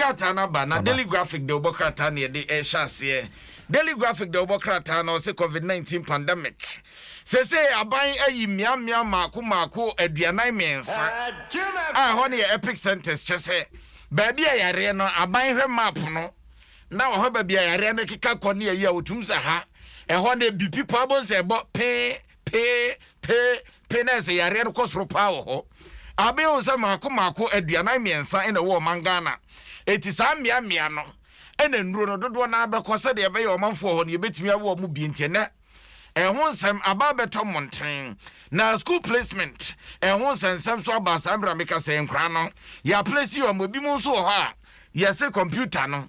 krataa no aba, na Daily Graphic de wɔbɔ krataa na yɛde rehyɛ aseɛ. Daily Graphic de wɔbɔ krataa no ɔse Covid-19 pandemic. Seesei aban ayi mmeammea mmaako mmaako aduanan mmiɛnsa a ɛhɔ no yɛ epic centres, kyerɛ sɛ baabi a yareɛ no, aban hwɛ map no na wɔhwɛ baabi a yareɛ no keka kɔ ne ayi a wɔtumi sɛ ha, ɛhɔ no ebi pipa abɔ nsɛ ɛbɔ pee. pe pe pe na ɛsɛ yareɛ no kɔ soro paa wɔ hɔ abe hu sɛ maako maako aduanan mmiɛnsa na ɛwɔ ɔman Ghana eti saa mmea mmea no ɛna nnuro no dodoɔ naa bɛkɔ sɛdeɛ ɛbɛyɛ ɔmanfoɔ hɔ no yɛbɛtumi awo ɔmo bi nti ɛnɛ ɛho nsɛm aba abɛtɔ mmɔnten na school placement ɛho nsɛnsɛm so aba saa mmerɛ meka sɛ nkora no yɛaplesi ɔmo ebi mu nso wɔ hɔ a yɛse kɔmputa no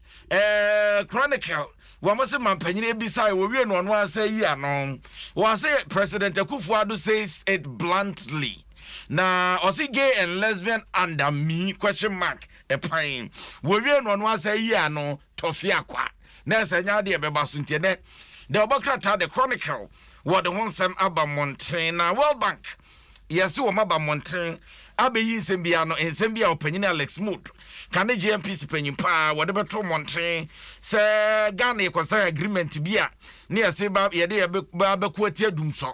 Eh, Chronicle, wɔn se mampanyin ebisae, wɔwie no ɔno ara sɛ yi ano. Wɔse President Akufo-Addo says it bluntly. Na ɔse gay and lesbian under me question mark ɛpan. Wɔwie no ɔno ara sɛ yi ano, tɔfe akwa. Na ɛsɛ nyɛ adeɛ ɛbɛba so nti ɛnɛ. The ɔbɔ krataa The Chronicle wɔde ho nsɛm aba mmɔnten na World Bank. Yɛse wɔn aba mmɔntene abɛyi nsɛm biara no, nsɛm bi a ɔpanyin Alex Mud ka ne JMPC panyin paa wɔde bɛto mmɔntene sɛ Ghana yɛkɔsan agreement bi a ne yɛse ba yɛde yɛba abɛko atia dumsɔ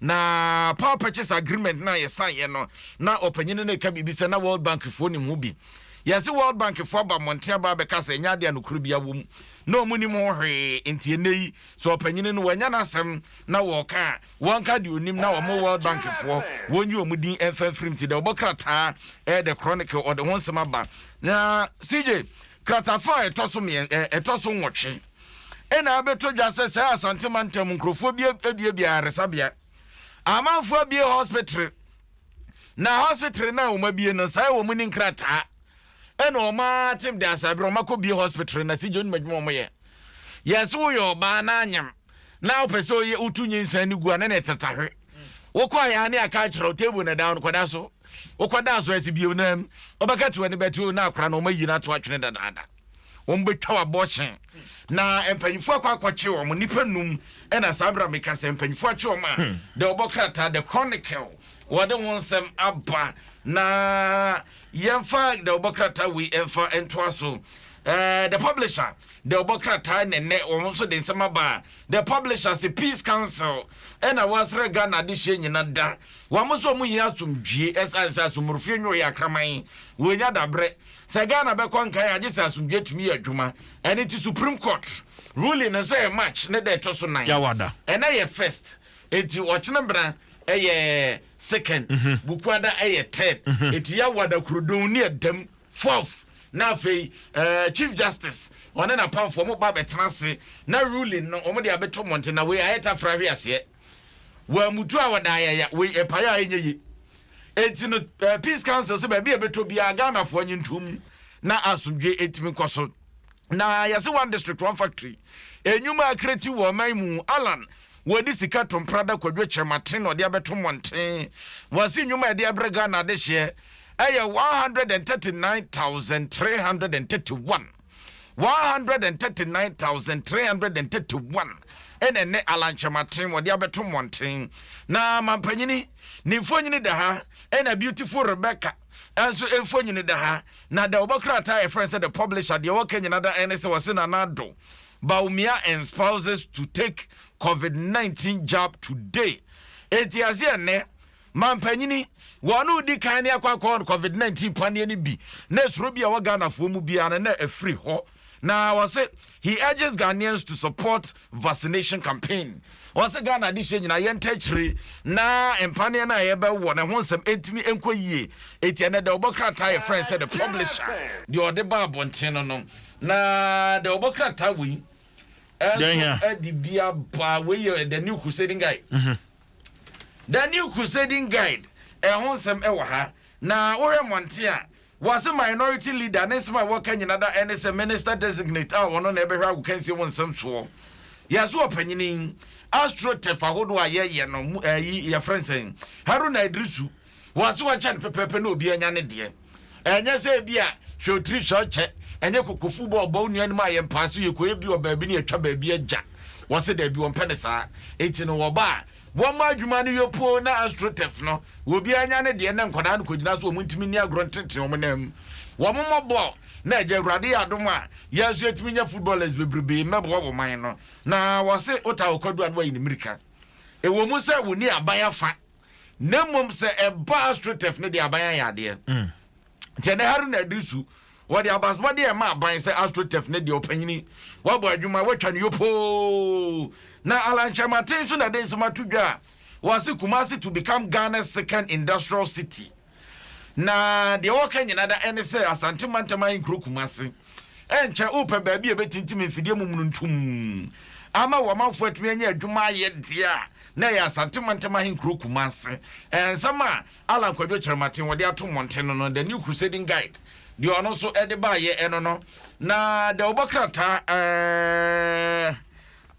na power purchase agreement no a yɛsan yɛ no na ɔpanyin no ɛka biribi sɛ na World Bank foɔ nim ho bi yɛse World Bank foɔ aba mmɔntene aba abɛka sɛ ɛnyɛ adeɛ a nokorɛ bi awom na wɔn nim ho hwee nti ɛnɛ yi sɛ ɔpanyin no wɔanya n'asɛm na wɔka a wɔnka deɛ ɔnim na wɔn world bankfoɔ wɔnyi wɔn din mfa mfirim ti dɛ ɔbɔ krataa ɛyɛ the chronicle ɔde ho nsɛm aba na cj kratafa a ɛtɔ so mmiɛ ɛtɔ so nwɔtwe ɛna abɛtɔ dwa sɛ sɛ asante mantam nkurɔfoɔ bi abiabia ayaresabea amanfoɔ abie hospital na hospital no a wɔn abie no saa wɔn ni nkrataa ɛna wɔn atem de asaberɛ wɔn akɔ bie hospital na cj onim adwuma wɔn yɛ yɛsɛ woyɛ ɔbaa na anyam na wopɛ sɛ ɔyɛ wotu nyinsɛn no gu a na na ɛtata hwe wokɔ ayɛ a ne aka akyerɛ wo table na dan no kɔda so wokɔda so ɛsi bio na mu ɔbɛka te w'ani bɛte o na akora na ɔmayi no ato atwene dadaada wɔbɛtwa w'abɔkyen na mpanyinfoɔ akɔ akɔkye wɔn nnipa num ɛna saa berɛ a meka sɛ mpanyinfoɔ akye wɔn a hmm. the ɔbɔ krataa the chronicle wɔde wɔn nsɛm aba na Yɛmfa The Ɔbɔ krataa wei mfa ntoa so. Eh, The Publisher, The Ɔbɔ krataa na nnɛ wɔn nso de nsɛm aba a, The Publisher se Peace Council ɛna wɔasra Ghana adehyeɛ nyina da. Wɔn nso wɔn hia asomdwie ɛsiane sɛ asomorofie nyɛ ɔyɛ akraman, wɔnnya daberɛ. Sɛ Ghana bɛkɔ nkan a, gye sɛ asomdwie tumi yɛ adwuma. Ɛno nti Supreme Court ruling no nso yɛ March ne da ɛtɔ so nan. Yawada. Ɛnnɛ yɛ first, enti ɔkyena bena ɛyɛ. second, Bukuada yɛ third, Etuya Wada Kurdun ne Edem fourth, na afei ɛɛ Chief Justice ɔne n'apamfoɔ wɔn ba abɛtena ase na ruling no wɔn de abɛto mmɔnten na wei ayɛ tafra hwe aseɛ. Wɔamutu a wɔda ayaya wei ɛpae a ɛnyɛ yie. Enti no ɛɛ Peace Council sɛ baabi a ɛbɛtɔ biara Ghanafoɔ nye nto mu na asomdwoe ɛtumi nkɔ so. Na yɛse One District One Factory, nnwuma a ɛkreti wɔ ɔman mu, Allan wɔde sika to mpra da Kwadwo Kyerematen na ɔde abɛto mmɔnten. Wɔse nnwuma a ɛde abrɛ Ghana adehyeɛ ɛyɛ one hundred and thirty nine thousand three hundred and thirty one one hundred and thirty nine thousand three hundred and thirty one ɛna ɛnɛ Alan Kyerematen wɔde abɛto mmɔnten na mampanyini ne mfonyini da ha ɛna beautiful Rebecca ɛnso mfonyini da ha na da wɔbɔ krataa yɛfrɛ sɛ the publisher deɛ wɔka nyina da ɛne sɛ wɔse nana do Bawumia and spouses to take covid nineteen jab today eti ase ɛnɛ mampanyini wɔn no di kan ne akɔ akɔ wɔn covid nineteen paneɛ no bi na esoro bi a wɔ ghanafoɔ mu biara no na efiri hɔ na wɔse he urges ghanaians to support vaccination campaign wɔse ghana adehyɛ nyinaa yɛn ntɛkyerɛ na mpaneɛ no a yɛbɛwɔ ne ho nsɛm ntumi nkɔ yie eti ɛnɛ dɛ wɔbɔ krataa yɛ fɛn sɛ the publisher deɛ ɔde ba abɔnten no no Na deɛ ɔbɔ krataa wei ɛnso ɛde bi aba wei yɛ the new crusading guide mhm. the new crusading guide ɛho nsɛm ɛwɔ ha na wohwɛ mmɔnten a wɔase minority leader ne nsɛm a wɔka nyina da ɛne sɛ minister designate a wɔno na ɛbɛhwɛ agokansie ho nsɛm soɔ yɛso ɔpanyini astrotef ahodoɔ a yɛyɛ no ɛyi yɛfrɛ nsɛn haruna idrisu Wɔn se wɔkyɛ no pɛpɛɛpɛ na obiara nya ne deɛ. Ɛnyɛ sɛ ebia hwɛ otiri hwɛ ɔkyɛ, ɛnyɛ kokofu bɔ ɔbɔ wo nua anim a yɛn paa so yɛkɔyɛ bi wɔ baabi na yɛtwa baabi agya. Wɔse daabi wɔmpɛ no saa. Enti no wɔba a, wɔma adwuma no yɔ poo na Astroturf no, obiara nya ne deɛ na nkwadaa no kɔgyina so a wɔntumi nni agorɔ ntenetene wɔn nan mu. Wɔmmɔ bɔɔl na agya Awurade yɛ adom a yɛn nso yɛatumi anya footballers bebrebee mmɛboa wɔ man no. Na wɔse wotaa ɔkwadua na woayi ne mmirika. Ɛwɔ mu sɛ wɔnni aban afa. Na mmom sɛ ɛba Astroturf no deɛ aban ayɛ adeɛ. Mm. Nti ɛnɛ Haruna Adrisu wɔde abasabɔde a ɛma aban sɛ Astroturf no deɛ ɔpanyini wɔabɔ adwuma wɔatwa no yopoo. Na Alan Kyerematen nso na ɛde nsɛm ato dwa a wɔase Kumasi to become Ghana's second industrial city. Na deɛ wɔka nyina da ɛne sɛ Asante mantam ahe nkuro Kumase ɛnkyɛ wopɛ baabi a ɛbɛtintim mfidie momununtum ama wɔ amanfoɔ atumi anya adwuma ayɛ deɛ a na ɛyɛ Asante mantam ahe nkuro Kumase ɛnsɛm a Alan Kwadwo Kyerɛmaten wɔde ato mmɔnten no no The New Crusading Guide deɛ ɔno nso ɛde baayɛ ɛno no na deɛ wɔbɔ krataa ɛɛ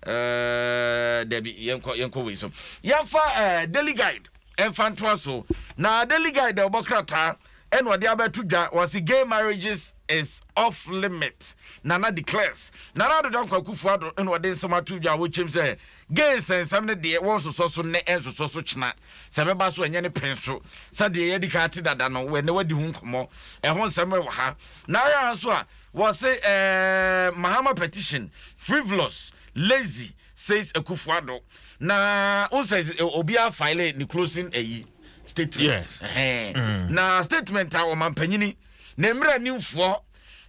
ɛɛ dabi yɛnkɔ yɛnkɔ wei so yɛmfa ɛɛ Daily Guide ɛmfa ntoa so. Na Daily Guide a ɔbɔ krataa ɛna ɔde abɛto dwa wɔse gay marriages is off limit Nana declares. Nana Addo Dankwa Akufo-Addo ɛna ɔde nsɛm ato dwa a wɔkyerɛm sɛ gay nsɛnsɛm no deɛ wɔnsosɔ so nnɛ ɛnsosɔ so kyena sɛ ɛbɛba so ɛnyɛ ne pɛn so sɛdeɛ yɛadi kan ate dada no wɔ ɛnɛ wadi ho nkɔmmɔ ɛho nsɛm ɛwɔ ha na ayɛ ara nso a wɔse ɛɛ Mahama petition frivolous lazy says Akufo-Addo. Na wohu sɛ obiara file ne closing ayi statement. Yes. Ɛhɛn. Mm. Na statement a ɔmampanyini ne mmerɛ nimfoɔ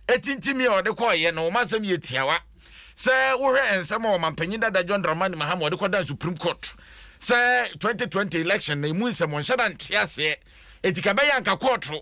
ɛtintimi a ɔde kɔɔyɛ no ɔma nsɛm yɛ tiawa sɛ wohwɛ nsɛm a ɔmampanyin dada John Dramani Mahama ɔde kɔdan Supreme Court sɛ 2020 election na ɛmu nsɛm ɔnhyɛ da nte aseɛ ɛti ka bɛyɛ anka kɔɔto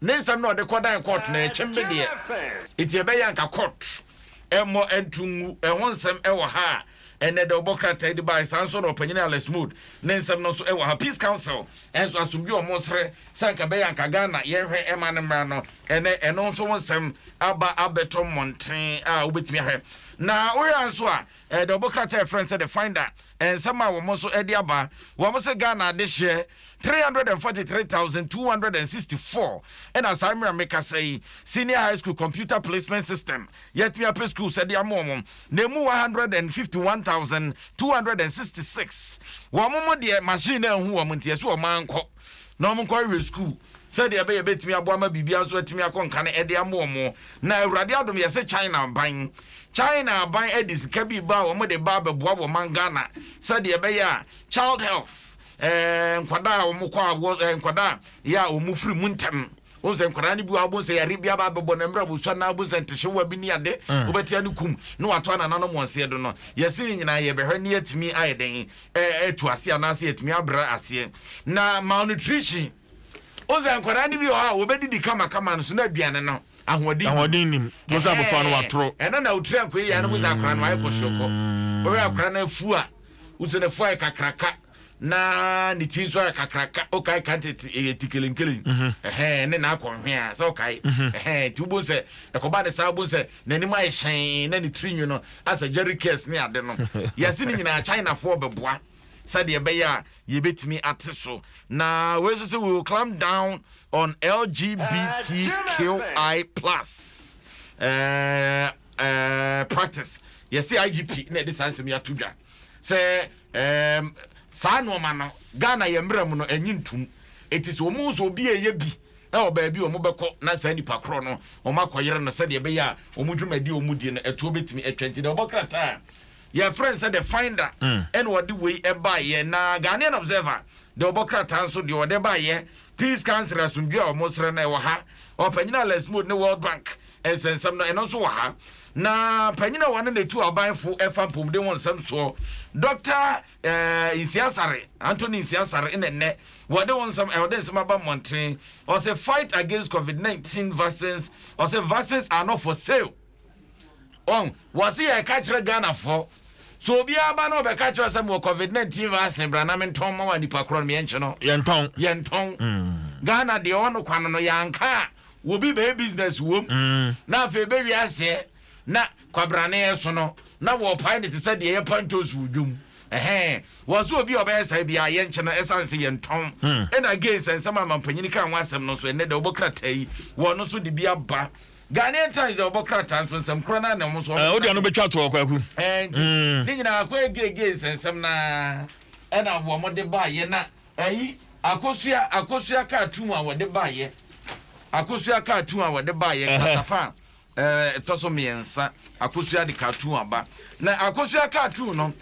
Ne nsɛm na ɔde kɔdan kɔɔt na ɛkyem me deɛ. Enti ɛbɛyɛ anka kɔɔt mmɔ nto ngu ɛho nsɛm wɔ ha a, ɛnnɛ dɛ ɔbɔ krataa yi de baeɛ. Saa nso na ɔpanyin Alex Mud ne nsɛm no nso wɔ ha. Peace Council nso asomdwie a wɔsrɛ sɛ anka ɛbɛyɛ anka Ghana yɛnhwɛ mma no mmra no, ɛnnɛ ɛno nso ho nsɛm aba abɛtɔ mmɔnten a wobɛtumi ahwɛ. Na wohwɛ ara nso a, Eh, the ɔbo krataa ɛfrɛ no sɛ the finder eh, nsɛm a wɔn nso ɛde aba wɔn sɛ ghana adehyeɛ three hundred and forty three thousand two hundred and sixty four ɛna saa mmerɛ mekasa yi senior high school computer placement system yɛatumi apɛ schools ɛde ama wɔn na emu one hundred and fifty one thousand two hundred and sixty six wɔn mo deɛ machine na ehu wɔn nti ɛso wɔn ankɔ. na wɔnkɔhwehwɛ sukuu sɛdeɛ ɛbɛyɛ ɛbɛtumi aboa ma biribiara nso atumi akɔ nka no ɛde ama wɔn. Na Awurade adom yɛse China aban, China aban ɛde sika bi ba a wɔn de ba abɛboa wɔ ɔman Ghana sɛdeɛ ɛbɛyɛ a child health, ɛɛ nkwadaa a wɔn kɔ a wɔ ɛɛ nkwadaa yɛ a wɔn firi mu ntɛm. wohu sɛ nkwadaa no bi wɔ a wobohu sɛ yare bi aba abɛbɔ no mmerɛ a wɔsua na wobohu sɛ ntehyewa bi ne ade mm. wobɛtea no kum na wato anananom wɔn seɛ do no yɛse ne nyinaa yɛbɛhwɛ ne yɛatumi ayɛ dɛn atu aseɛ anaasɛ yɛatumi abrɛ aseɛ na malnutrition wohu sɛ nkwadaa no bi wɔ hɔ a wɔbɛdidi kamakama no so na aduane no ahoɔden ahoɔden nim mo sɛ abɔfra no watoro ɛno na wotiri ankoe yɛ no mo sɛ akora no ayɛ kɔsoɔkɔ wɔyɛ akora no afu a wosɛ no afu ayɛ kakraka na ne ti nso ayɛ kakraka wokae ka nti ɛyɛ ti kelenkelen ɛhɛn ne n'akɔnhwe a sɛ wokae ɛhɛn nti wobɛhu sɛ ɛkɔba ne saa wobɛhu sɛ n'anim ayɛ hyɛn na ne tiri nwi no asɛ jerry cares ne ade no yɛse ne nyinaa chinafoɔ bɛboa sɛdeɛ ɛbɛyɛ a yɛbɛtumi ate so na wei nso sɛ we will clamp down on lgbtqi plus uh, uh, practice yɛse igp na ɛde saa nsɛm yɛato dwa Sɛ ɛɛm saa nnoɔma no Ghana yɛn mmra mu no ɛnye ntum. Eti sɛ wɔn sɛ obi ɛyɛ bi ɛwɔ baabi a wɔn bɛkɔ na saa nipa korɔ no wɔn akɔyere no sɛdeɛ ɛbɛyɛ a wɔn dwumadie a wɔn die no ɛtoɔ bɛtumi atwa nti deɛ ɔbɔ krataa a yɛfrɛ no sɛ the finder mm. ɛna ɔde wei ɛbaeɛ na Ghanaian observer deɛ ɔbɔ krataa nso deɛ ɔde baeɛ peace council asomdwe a wɔn srɛ no ɛwɔ ha ɔpanyin a lesmode ne world bank Nsɛnsɛm no, ɛno nso wɔ ha. Na panyin a wɔne no tu abanfo ɛfa mpomuden ho nsɛm soɔ, Dɔkta eh, Nsiasare, Anthony Nsiasare, na nnɛ wɔde ho nsɛm, wɔde nsɛm aba mmɔnten. Ɔsɛ fight against COVID-19 vaccines, ɔsɛ vaccines are not for sale. Ɔn, wɔse yɛka kyerɛ Ghanafoɔ, so obiara ba na ɔbɛka kyerɛ sɛ mewɔ COVID-19 vaccine bra na mentɔn ma wa nipa korɔ no, meɛnkye no. Yɛntɔn. Yɛntɔn. Mm. Ghana deɛ ɔno kwa no no, yɛanka a, wɔ bi bɛyɛ business wom na afei bɛwie aseɛ na kwabrane ɛso no na wɔpae ne te sɛ deɛ yɛpa ntoos wɔ dwom ɛhɛn wɔ so obi a ɔbɛyɛ saa bi a yɛnkyɛ no ɛsiane sɛ yɛntɔn hmm. ɛna again sɛ nsɛm a mampanyini ka ho asɛm no so ɛnɛ dɛ wɔbɔ krataa yi wɔn no so de bi aba Ghanaian Times a wɔbɔ krataa nso nsɛm korɔ no anam so eh, wode ano bɛtwa toɔ kwaku eh, nti hmm. ne nyinaa kɔ ɛgege nsɛnsɛm naa ɛna wɔn de baayɛ na Ayi, akosua, akosua cartoon a wɔde baeɛ, akosua cartoon a wɔde baeɛ, kratafa a ɛtɔ so mmiɛnsa, akosua de cartoon aba. Na akosua cartoon no,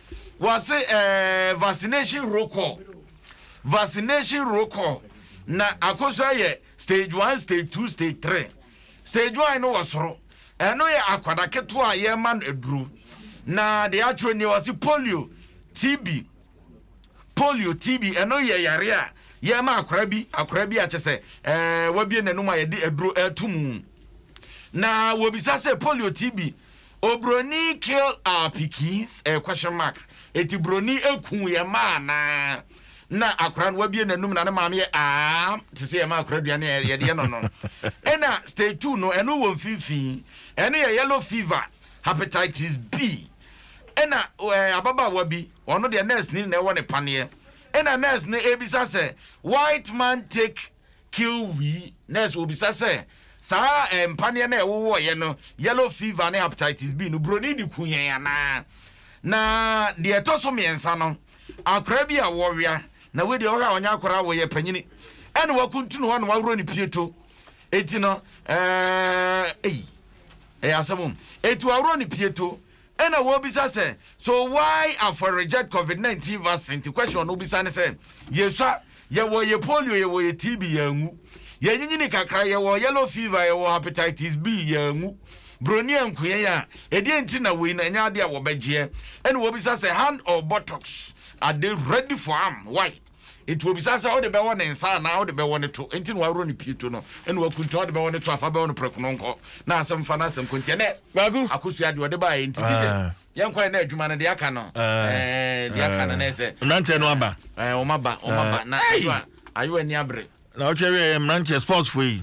wɔase ɛɛ vaccination roll call, vaccination roll call. Na akosua yɛ stage one, stage two, stage three. Stage one no wɔ soro, ɛno yɛ akwadaa ketewa a yɛrema no aduro. Na deɛ atwerɛ nie wɔase polio, TB, Polio, TB, ɛno yɛ yare a yɛma akora bi, akora bi a kyɛ sɛ ɛɛ wabie n'anum a yɛde aduro ɛto mu. Na wɔbisa sɛ polio, TB, obroni kill our pikins, ɛɛ question mark, eti broni eku yɛ maa naa na akora no wabie n'anum na ne maame yɛ aa te sɛ yɛma akora aduane a yɛde yɛ no no. Ɛna stage two no ɛno wɔ mfimfini, ɛno yɛ yellow fever, hepatitis B. Ɛna ɛɛ ababaawa bi, ɔno deɛ nurse ni na ɛwɔ ne paneɛ. Ɛna nurse no ɛrebisa sɛ, white man take kill we? Nurse ɔbisa sɛ, saa ɛɛ mpaneɛ no a ɛwowɔeɛ no, yellow fever ne hepatitis B no, buroni de ku yɛn anaa? Na deɛ ɛtɔ so mmiɛnsa no, akwadaa bi a wɔwea, na wei deɛ ɔhwɛ a ɔnyɛ akwadaa, wɔyɛ panyini, ɛna wakuntunu hɔ na waworɔ ne pieto. Eti no ɛɛ ei. Ɛyɛ asɛm o. Etu aworo ne pieto. Ɛna wɔbisa sɛ, so why afɔr reject covid 19 vaccine? Nti question no wobisa ne sɛ, yesua, yɛwɔ yɛ polio, yɛwɔ yɛ TB, yɛanwu. Yɛanyinyini kakra, yɛwɔ yellow fever, yɛwɔ hepatitis B, yɛanwu. Broni anku yɛn a, ɛdeɛn nti na wei no ɛnyɛ adeɛ a wɔbɛgyeɛ? Ɛna wɔbisa sɛ, hand or buttocks, are they ready for arm? Why? Enti obisa sɛ, Wode bɛwɔ ne nsa anaa wode bɛwɔ ne to? Enti na waworɔ ne pieto no, ɛnna wakuntun, ɔde bɛwɔ ne to afa bɛwɔ no prɛko no nkɔ. Na asɛm fa no asɛm kɔ nti, ɛnnɛ Kwaku. akosua deɛ ɔde baeɛ nti CJ, Ah. yɛnkɔɛ na adwuma no deɛ aka no, Ah. ɛɛ, deɛ aka no na ɛsɛ. Mmeranteɛ no aba. Ɛɛ, wɔn aba, wɔn aba. Na Hey! ayo a, ayo ani abere. Na ɔtwɛ wieɛ mmeranteɛ sportsfoɔ yi.